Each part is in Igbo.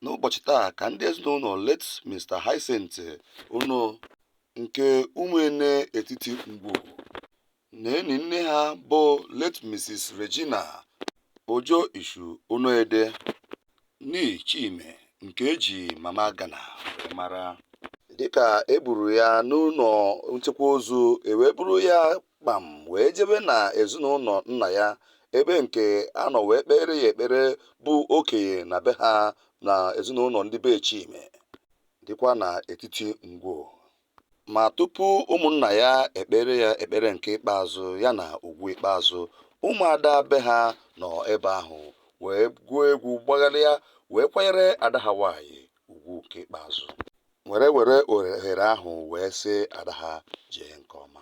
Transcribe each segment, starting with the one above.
n'ụbọchị taa ka ndị ezinụnọ late Mr. Hyacinth Ono nke Umuene Etiti Ngwo na-eni nne ha bụ late Mrs. Regina Ojo Ishu Onoede nee Chime nke e ji Mama Ghana wee mara. Dịka e buru ya n'ụnọ nchekwa ozu, e wee buru ya kpam wee jebe na ezinụnọ nna ya ebe nke a nọ wee kpere ya ekpere bụ okenye na be ha na ezinụnọ ndị be Chime dịkwa na Etiti Ngwo. Ma tupu ụmụnna ya ekpere ya ekpere nke ikpeazụ ya na ugwu ikpeazụ, ụmụada be ha nọ ebe ahụ wee gụọ egwu gbagharịa wee kwanyere ada ha nwaanyị ugwu nke ikpeazụ. Were were ohere ahụ wee sị ada ha jee nke ọma.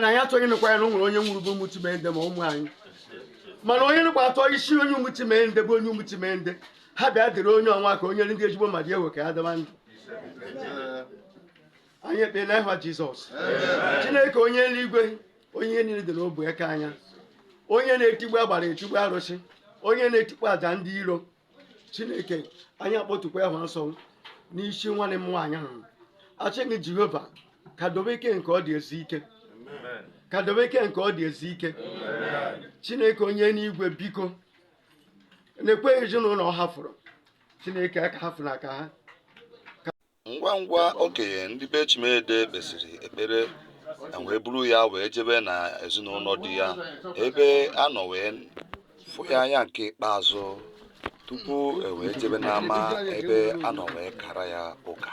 na anyị achọghị ịnụkwa ya na o nwere onye nwụrụ bụ Umuchimede ma ụmụ anyị mana onye nụkwa atọ isi onye Umuchimede bụ onye Umuchimede ha bịa dịrị onye ọnwa ka onye ndị ezigbo mmadụ ewe ka ya daba ndụ anyị ekpee na ịhwa Jizọs Chineke onye eluigwe onye ihe niile dị n'ọbụ aka ya onye na-etigbu agbara etigbu arụsị onye na-etikpo aja ndị iro chineke anyị akpọtukwa ya nsọ n'isi nwanne m nwaanyị ahụ achịghị jehova ka dobe ike nke ọ dị ezi ike ka dobe ike nke ọ dị ezi ike chineke onye nwe igwe biko nekwa ezinụnọ ọ hafụrụ chineke aka hafụ na aka ha ngwa ngwa okenye ndị be Chimede kpesịrị ekpere e wee buru ya wee jebe na ezinụnọ di ya ebe a nọ wee fụ ya anya nke ikpeazụ tupu e wee jebe n'ama ebe a nọ wee kara ya ụka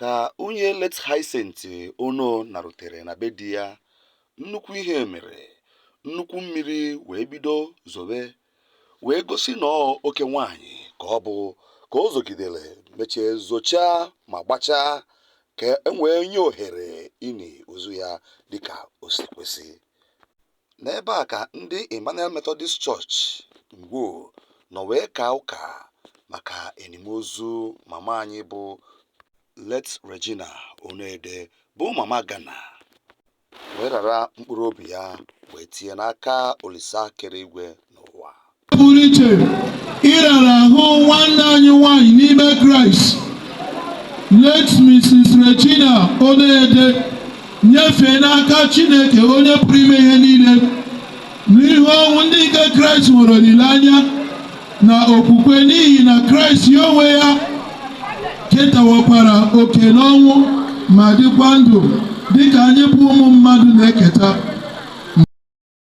ka nwunye late Hyacinth Ono narutere na be di ya nnukwu ihe mere nnukwu mmiri wee bido zobe wee gosi na ọ oke nwaanyị ka ọ bụ ka o zogidere mechie zochaa ma gbachaa ka e wee nye ohere ini ozu ya dịka o si kwesị N'ebe a ka ndị Emmanuel Methodist Church Ngwo nọ wee kaa ụka maka enim ozu mama anyị bụ late Regina Onoede bụ mama Ghana wee rara mkpụrụ obi ya wee tinye n'aka Olisa kere igwe pụrụ iche ịrara ahụ nwanne anyị nwanyị n'ime kraịst late mrs regina oneyede nyefee n'aka chineke onye pụrụ ime ihe niile n'ihu ọnwụ ndị nke kraịst nwere olileanya na okwukwe n'ihi na kraịst ya onwe ya ketawakwara oke n'ọnwụ ma dịkwa ndụ dịka anyị bụ ụmụ mmadụ na-eketa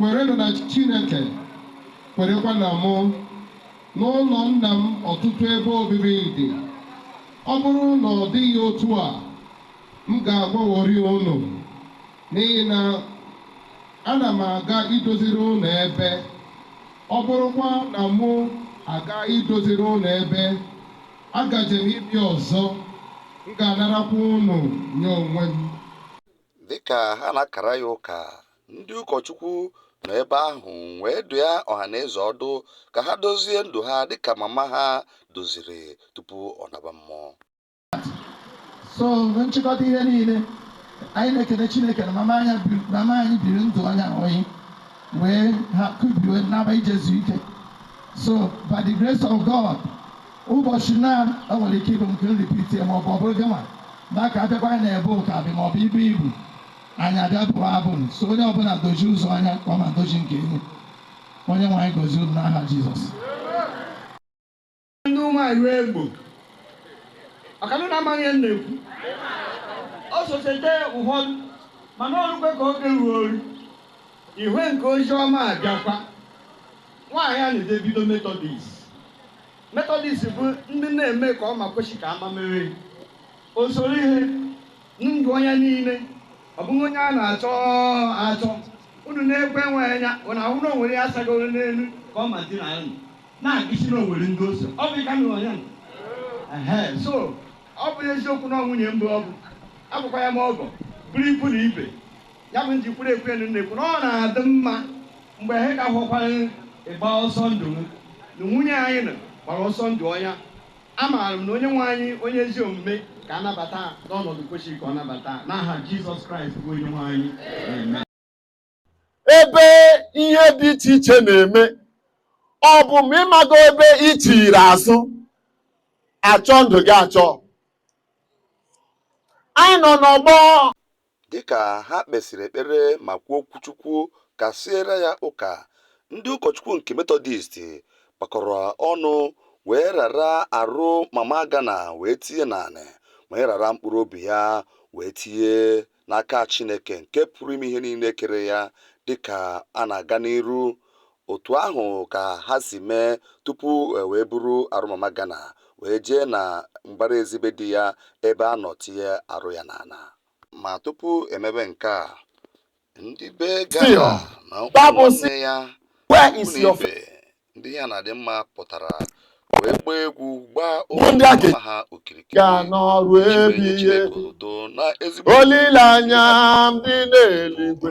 Kwerenụ na Chineke, kwerekwa na mụ. N'ụlọ Nna m ọtụtụ ebe obibi dị. Ọ bụrụ na ọ dịghị otu a, m ga-agwaworị unu, n'ihi na ana m aga idoziri unu ebe. Ọ bụrụkwa na mụ agaa idoziri unu ebe, agaje m ịbịa ọzọ, m ga-anarakwa unu nye onwe m. Dị ka ha na-akara ya ụka, Ndị ụkọchukwu nọ ebe ahụ wee dụọ ọha na eze ọdụ ka ha dozie ndụ ha dịka mama ha doziri tupu ọ naba mmụọ. so mgbe nchịkọta ihe niile anyị na-ekele Chineke na mama anyị biri mama anyị biri ndụ onye ahụghị wee kubie naba ije zuo ike so by the grace of God ụbọchị na o nwere ike ịbụ nke nripiti maọbụ ọ bụrụ gịnwa na ka abịakwa na ebe ụka dị maọbụ ibu ibu anyị abịa bụrụ abụ so onye ọbụla dozie ụzọ ya ka mama doziri nke ya onye nwe anyị gọzie unu n'aha Jizọs ndị ụmụ anyị egbo ọkanụ na-amaghị ihe na-ekwu ọ sochete ụfọdụ mana ọrụkwe ka oge ruo oru ihwe nke ozi ọma abịakwa nwaanyị a na-eje bido metọdis metọdis bụ ndị na-eme ka ọ ma kwechi ka ama mere o soro ihe Ndụ onye niile, ọ bụghị onye a na-achọ achọ. Unu na-ekwe nwe anya, unu ahụ na onwere ya sagoro n'elu ka ọ ma di na unu. Na-egosi na onwere ndị o so. Ọ bụ ịka nụrụ onye nọ. Ehe, so ọ bụ eziokwu na ọ nwunye mbụ ọ bụ, abụkwa ya m ọgọ, bụrụ ikwu na ibe. Ya bụ nji kwuru ekwu enu na-ekwu na ọ na-adị mma mgbe ha ka hụkwara ịgba ọsọ ndụ m na nwunye anyị nọ gbara ọsọ ndụ ọnya Amaara m na Onyenwe anyị onye ezi omume ga-anabata n'ọnọdụ kwesịrị ka ọ nabata n'aha Jizọs Kraịst bụ Onyenwe anyị. Amen. ebe ihe dị iche iche na-eme ọ bụ ma ịmago ebe i chere azụ achọ ndụ gị achọ anyị nọ n'ọgbọ Dịka ha kpesịrị ekpere ma kwuo okwuchukwu kasịere ya ụka, ndị ụkọchukwu nke Metọdist gbakọrọ ọnụ wee rara arụ Mama Agana wee tinye n'anị, wee rara mkpụrụ obi ya wee tinye n'aka Chineke nke pụrụ ime ihe niile kere ya. Dịka a na-aga n'iru, Otu ahụ ka ha si mee tupu e wee buru arụ Mama Ghana wee jee na mbara ezi be di ya ebe a nọ tinye arụ ya n'ala. Ma tupu e mebe nke a, ndị be Ghana na ụmụnne ya, ikwu na ibe, ndị ihe na-adị mma pụtara wee gbaa egwu gbaa ụmụnna ha okirikiri iji wee nye Chineke otuto na ezigbo olileanya ndị na-eluigwe.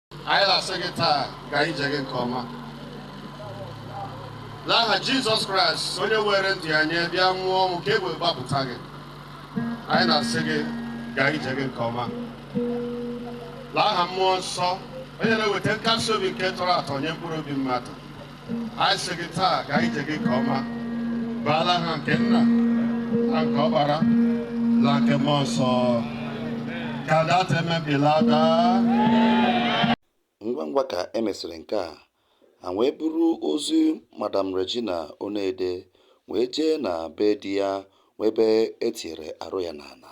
anyị na-asị gị taa gaa ije gị nke ọma n'aha jizọs kraịst onye weere ndụ ya nye bịa nwụọ ọnwụ ka e wee gbapụta gị anyị na-asị gị gaa ije gị nke ọma n'aha mmụọ nsọ onye na-eweta nkasi obi nke tọrọ atọ nye mkpụrụ obi mmadụ anyị sị gị taa gaa ije gị nke ọma baa n'aha nke nna na nke ọkpara na nke mmụọ nsọ ka data emebila daa ngwa ngwa ka e mesịrị nke a ha wee buru ozu madam regina onede wee jee na be di ya wee ebe e tinyere arụ ya n'ala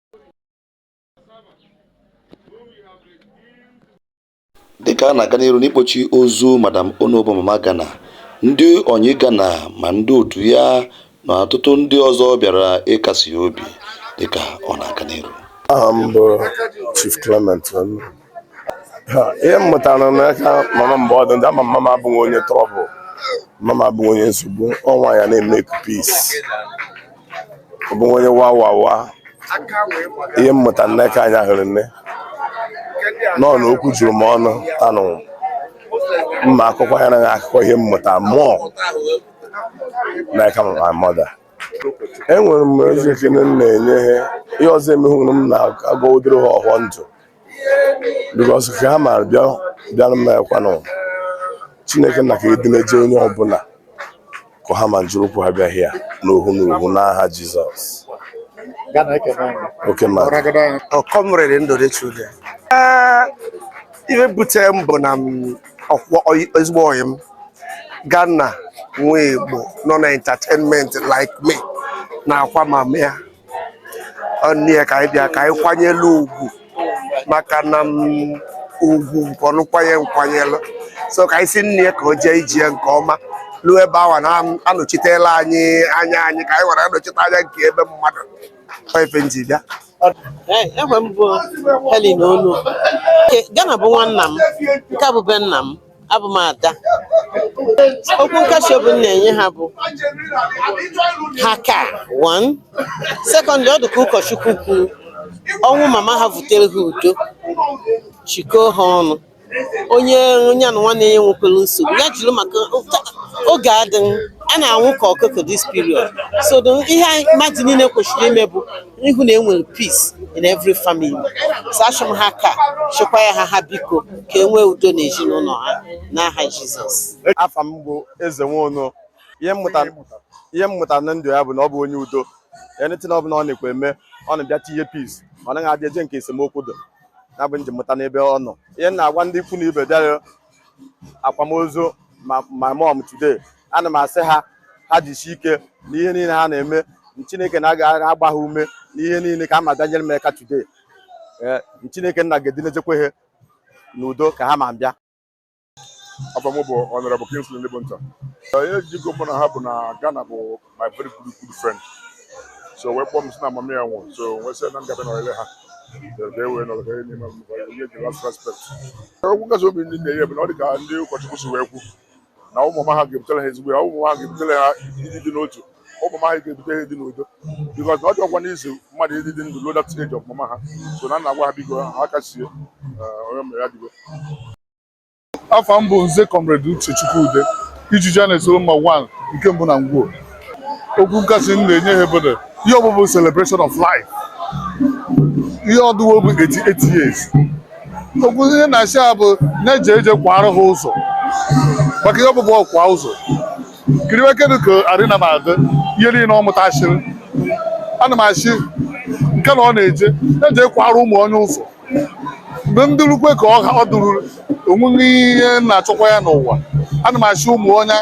dịka a na-aga n'iru n'ikpochi ozu madam onobo mama gana ndị enyi gana ma ndị otu ya na ọtụtụ ndị ọzọ bịara ịkasi ya obi dịka ọ na-aga n'iru aha m bụ chief clement ihe m mụtara n'aka mama mgbe ọ dị ndụ mama abụghị onye trouble mama abụghị onye nsogbu ọ nwaanyị na-emeke peace ọ bụghị onye wa wa wa ihe m mụtara n'aka nwaanyị ahụ riri nne nọ na okwu juru m ọnụ tanụ mma akụkọ ya naghị akụkọ ihe m mụtara mụọ n'aka my mother enwere m ezi ekele m na-enye ha ihe ọzọ emeghị m na-agwa ụdịrị ha ọhụọ ndụ because ka ha mara bịa bịara m ekwanụ chineke na ka edineje onye ọbụla ka ha ma jiri ụkwụ ha bịa here n'ohu n'ohu n'aha jizọs oke ma ọ comrade ndụdị chude ihe butere m bụ na m ọkwọ oyi- ezigbo ọyị m Ghana nwa Igbo nọ na entertainment like me na-akwa mama ya ọ nne ya ka anyị bịa ka anyị kwanyelu ugwu maka na m ugwu nke ọnụ kwanye nkwanyelụ so ka anyị sị nne ya ka o jee ije ya nke ọma ruo ebe awa na anọchitela anyị anya anyị ka anyị were anọchite anya nke ebe mmadụ ọ ife m ji bịa afa m bụ Helen Onu Ke- Gana bụ nwanna m nke a bụ be nna m abụ m ada okwu nkasi obi m na-enye ha bụ ha ka one secondly ọ dị ka ụkọchukwu kwuru ọnwụ mama ha vutere ha udo chịkọọ ha ọnụ onye onye na nwanne ya nwekwara nsogbu ya jụrụ maka oge adịghị a na-anwụ ka ọkụkọ this period so the- ihe anyị- mmadụ niile kwesịrị ime bụ ịhụ na enwere peace in every family so achọ m ha ka chekwa ya ha ha biko ka e nwee udo n'ezinụlọ ha n'aha Jizọs afa m bụ eze nwaọnụ ihe m mụtara na ndụ ya bụ na ọ bụ onye udo anything ọbụla ọ na-ekwe eme ọ na-abịa tinye peace ọ naghị adị eje nke esemokwu dụ ya bụ nke m mụta n'ebe ọ nọ ihe m na-agwa ndị ikwu na ibe bịara akwamozu my mom today ana m asị ha ha jisie ike na ihe niile ha na-eme chineke nna ga-agba ha ume n'ihe niile ka ha ma bịa nyere m aka today ee chineke nna ga-edinejekwa ha n'udo ka ha ma bịa afa m bụ Honourable Kingsley Ndịbụnta ihe jikọ mụ na ha bụ na Ghana bụ my very good good friend so wee kpọọ m sị na mama ya nwụrụ so wee sị na m ga-abịa nọrịrị ha ka e wee nọrọ ka e nye mama ya last respect okwu nkasi obi m na-enye bụ na ọ dị ka ndị ụkọchukwu si wee kwu na ọnwụ mama ha ga-ebutere ha ezigbo ya ọnwụ mama ha ga-ebutere ha ịdị dị n'otu ọnwụ mama ha ga-ebute ha ịdị n'udo because na ọ dịrọkwa easy mmadụ ịdị dị ndụ ruo na the age of mama ha so ana m agwa ha biko ha kasie onye mere ya digo afa m bụ nze comrade uche chukwude ijiji na-esoro mma one nke mbụ na ngwuo okwu nkasi m na-enye ha bụdụ ihe ọ bụ bụ celebration of life ihe ọ dụwo bụ 88 years okwu ihe na-asị ha bụ na-eje eje kwara ha ụzọ maka ihe ọ bụ bụ ọkwa ụzọ kiriwe kedu ka arịna m adị ihe niile ọ mụtasịrị ana m asị nke na ọ na-eje na-eje kwara ụmụ onye ụzọ mgbe m dụrụkwe ka ọ ha- ọ dụrụ onweghị ihe m na-achọkwa ya n'ụwa ana m asị ụmụ nya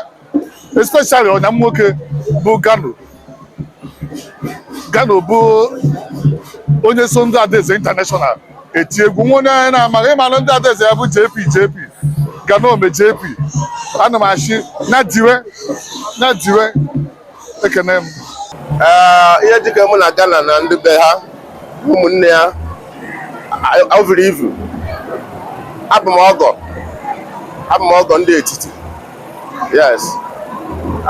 especially ọyị m nwoke bụ gano gano bụ onye so ndị adaeze international etie egwu onweghị onye na-amaghị ịmara ndị adaeze ya bụ jp jp gano ome jp ana m asị nya diwe nya diwe ekene m ihe jikọ mụ na Ghana na ndị be ha ụmụnne ya o vuru ivu abụ m ọgọ abụ m ọgọ ndị etiti yes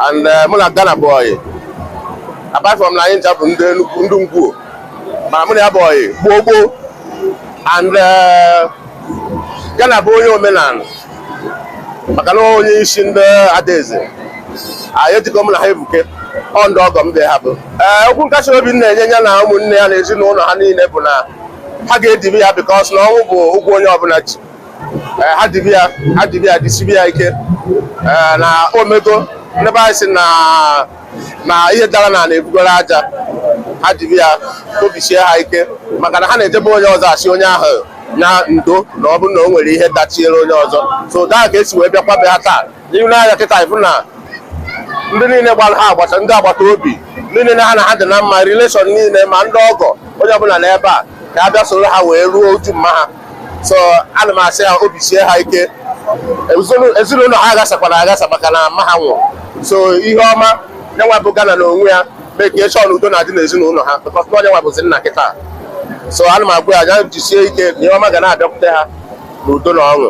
and eh, mụ na Ghana bụ ọyị apart from na anyị ncha bụ ndị ndị ngwuo mana mụ na ya bụ ọyị gboo gboo and eh, Ghana bụ onye omenala maka na onye isi ndị adaeze ihe jikọ mụ na ha ebuke ọ ndị ọgọ m dị ha bụ ee okwu nkasi obi m na-enye ya na ụmụnne ya na ezinụlọ ha niile bụ na ha ga-edibe ya because na ọnwụ bụ ụgwọ onye ọbụla ji ha dibe ya ha dibe ya disibe ya ike na omego ndị be anyị sị na na ihe dara n'ana ebugoro aja ha dibe ya obi sie ha ike maka na ha na-eje be onye ọzọ asị onye ahụ ndo na ọ bụrụ na o nwere ihe dachiere onye ọzọ so daa ka e si wee bịakwa be ha taa n'ihu n'anya kịta ịfụ na ndị niile gbara ha agbata ndị agbata obi ndị niile ha na ha dị na mma relation niile ma ndị ọgọ onye ọbụla n'ebe a ka a bịa soro ha wee ruo uju mma ha so ana m asị ha obi sie ha ike ezinụlọ ha aghasakwana aghasa maka na mma ha nwụrụ so ihe ọma nyanwa bụ Gana na onwe ya make sure na udo na-adị n'ezinụlọ ha because na ọ nyanwa bụzi nna kịta so ana m agwa ya ya jisie ike na ihe ọma ga na-abịakwute ha n'udo na ọṅụ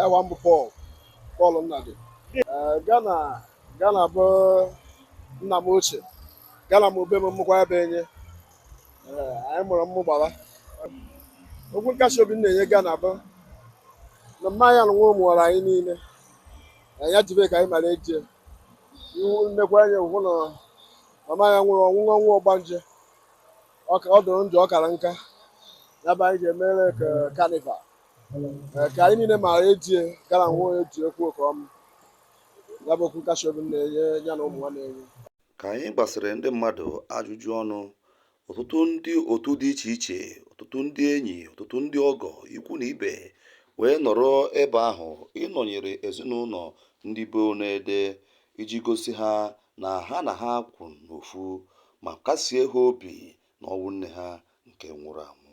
Aha m bụ Pọl Pọl Nnadi Ee, Gana Gana bụ nna m ochie Gana m obe m mmụkwa ebe enye Ee, anyị mụrụ mmụ gbara okwu nkasi obi m na-enye Gana bụ na mma ya nwụrụ mụwara anyị niile na ya jibe ka anyị mara eje iwu nnekwa anya hụ na mama ya nwụrụ ọ nwụrọ ọnwụ ọgbanje ọ ka- ọ dụrụ ndụ ọ kara nka ya bụ anyị ga-emere ka carnival ka anyị niile maara etie gara nwa onye ji ekwu oke ọma ya bụ okwu nkasi obi m na-enye ya na ụmụ nwanne ya ka anyị gbasịrị ndị mmadụ ajụjụ ọnụ ọtụtụ ndị otu dị iche iche ọtụtụ ndị enyi ọtụtụ ndị ọgọ ikwu na ibe wee nọrọ ebe ahụ ịnọnyere ezinụlọ ndị be Onede iji gosi ha na ha na ha kwụ n'ofu ma kasie ha obi n'ọnwụ nne ha nke nwụrụ anwụ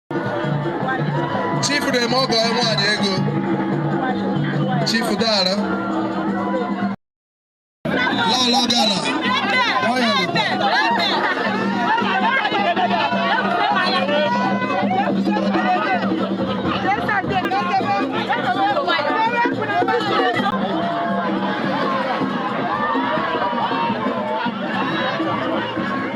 chifu na-eme ọgọ ya nwaanyị ego chifu dara lọlọ Gana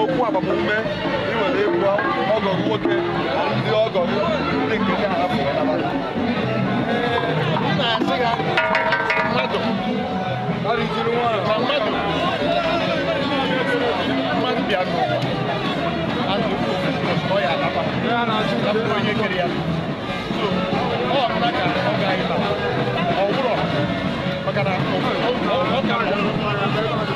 okwu agbamume ị nwere ịgwa ọgọ gị nwoke na ndị ọgọ gị ndị nke gị ahapụ ya naba gị. Ọ na-asị ya mmadụ Ọ rịjiri nwa ahụ. na mmadụ mmadụ bịa n'ụwa anụ ọ ya alaba Ya na-achụ ya bụrụ onye kere ya So, ọ nụla ka ọ gaghị naba ọ bụrụ maka na ọ- ọ- ọ ka bụ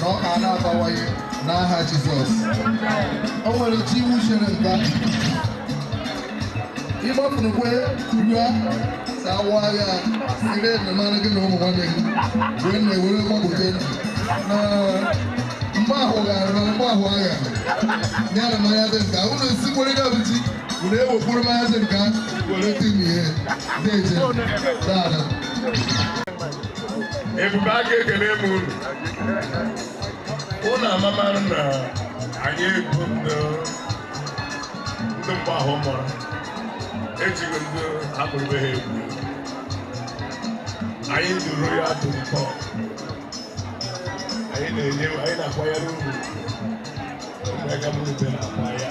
ka ọ ka na-abawanye n'aha Jizọs o nwere chi iwu chere nka ịgbapụrụkwe rue sawa agha siri enyemara gị na ụmụ nwanne gị wee na-ewere gbapụta ndụ na mgbe ahụ gara na mgbe ahụ agha ya na mmanya dị nka unu esikwere ya bụ chi unu ewepụrụ mmanya dị nka were tinye ihe na-eje dada ebube aka ekele m unu unu amamara na anyị bụ ndị ndị mgbe ahụ mụrụ ejighị ndị akpụrụbe ha egwu anyị duru ya atụ ntọ anyị na-enye anyị na-akwanyere uru ụmụaka m rute na-akwa ya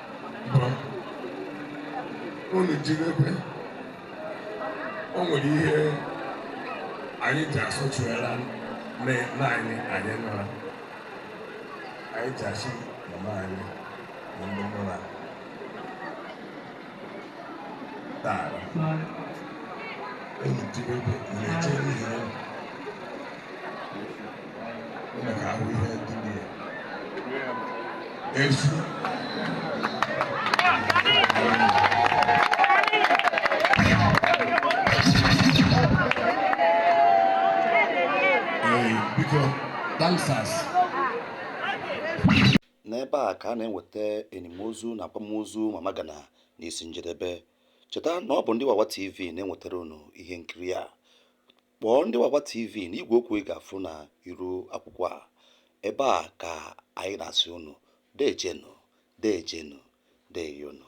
bụ unu jiri ekwe o nwere ihe anyị ji asụchụela nne nna anyị anyị nọrọ anyị ji asị mama anyị na ndị mụra taa unu jiri ekwe na-eche n'ihi unu Unu ga-ahụ ihe ndị dị ya. Efu. Ee, biko, dancers. n'ebe a ka a na-enweta enimozu na akwamozu mama gana n'isi njedebe cheta na ọ bụ ndị wawa tv na-enwetara unu ihe nkiri a Kpọọ ndị Wawa TV n'igwe okwu ị ga-afụ na iru akwụkwọ a. Ebe a ka anyị na-asị unu deejenu, deejenu, deeyonu.